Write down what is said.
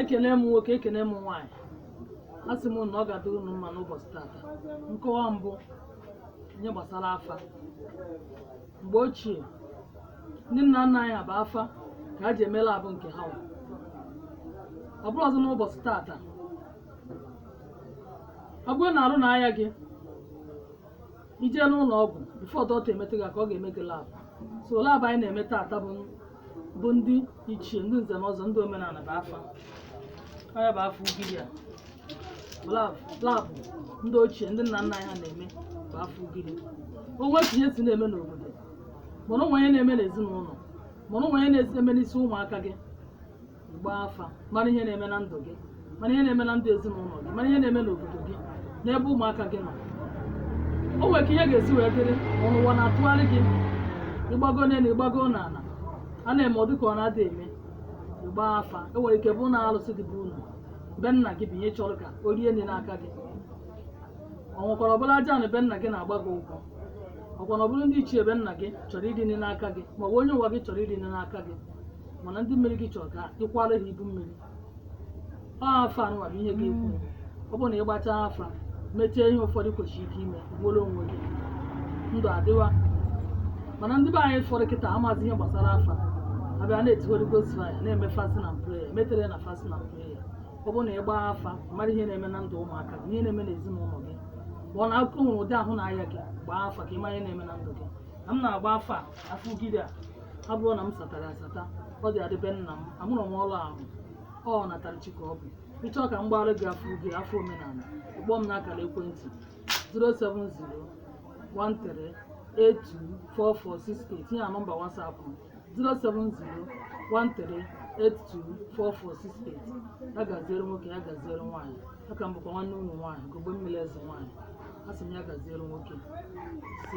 ekene m nwoke ekene m nwaanyị asị m na ọ ga-adịrị unu mma n'ụbọchị tata nkọwa m bụ ihe gbasara afa mgbe ochie ndị nna nna anyị ha bụ afa ka ha ji eme lab nke ha wa. ọ bụrụzị n'ụbọchị tata ọ bụrụ na arụ na-aya gị i jee n'ụlọ ọgwụ before dọkịta emetụ gị aka ọ ga-eme gị lab so lab anyị na-eme taata bụ bụ ndị ichie ndị nze na ọzọ ndị omenala bụ afa ọ ya bụ afa ugiri a lab lab ndị ochie ndị nna nna anyị ha na-eme bụ afa ugiri o nwee etu ihe si na-eme n'obodo mana o nwee ihe na-eme n'ezinụlọ mana o nwee ihe na-eme n'isi ụmụaka gị gbaa afa mara ihe na-eme na ndụ gị mara ihe na-eme na ndụ ezinụlọ gị mara ihe na-eme n'obodo gị n'ebe ụmụaka gị nọ o nwere ka ihe ga-esi wee dịrị ma ụwa na-atụgharị gị ị gbago n'elu ị gbago n'ala a na-eme ọ dị ka ọ na-adị eme ị gbaa afa o nwere ike bụ na alụsị dị be unu be nna gị bụ ihe chọrọ ka o rie nri n'aka gị o nwekwara ọ bụrụ aja ana be nna gị na-agba gị ụgwọ ọ kwa na ọ bụrụ ndị ichie be nna gị chọrọ iri nri n'aka gị ma ọ bụ onye ụwa gị chọrọ iri nri n'aka gị mana ndị mmiri gị chọrọ ka ị kwaara ha ibu mmiri ọ afa anụnwa bụ ihe ga-ekwu ọ bụrụ na ị gbachaa afa mechaa ihe ụfọdụ kwesịrị ka i mee gworo onwe gị ndụ adịwa mana ndị be anyị fọrọ kịta amazi ihe gbasara afa a bịa na-eti Holy Ghost fire na-eme fasting and prayer metere na fasting and prayer ọ bụrụ na ị gbaa afa mara ihe na-eme na ndụ ụmụaka gị ihe na-eme n'ezinụlọ gị ma ọ na akụkọ nwere ụdị ahụ na-aya gị gbaa afa ka ị mara ihe na-eme na ndụ gị na m na-agba afa afa ugiri a abụrọ na m satara asata ọ dị adị be nna m amụrọ m ọrụ ahụ ọnatara chi ka ọ bụ ị chọọ ka m gbaara gị afa ugiri afa omenala ị kpọọ m n'akara ekwentị 07013824468 tinye na nọmba WhatsApp m 07013824468 ya gaziere nwoke ya gaziere nwaanyị aka m bụkwa nwanne unu nwaanyị ugogbe mmiri eze nwaanyị asị m ya gaziere nwoke si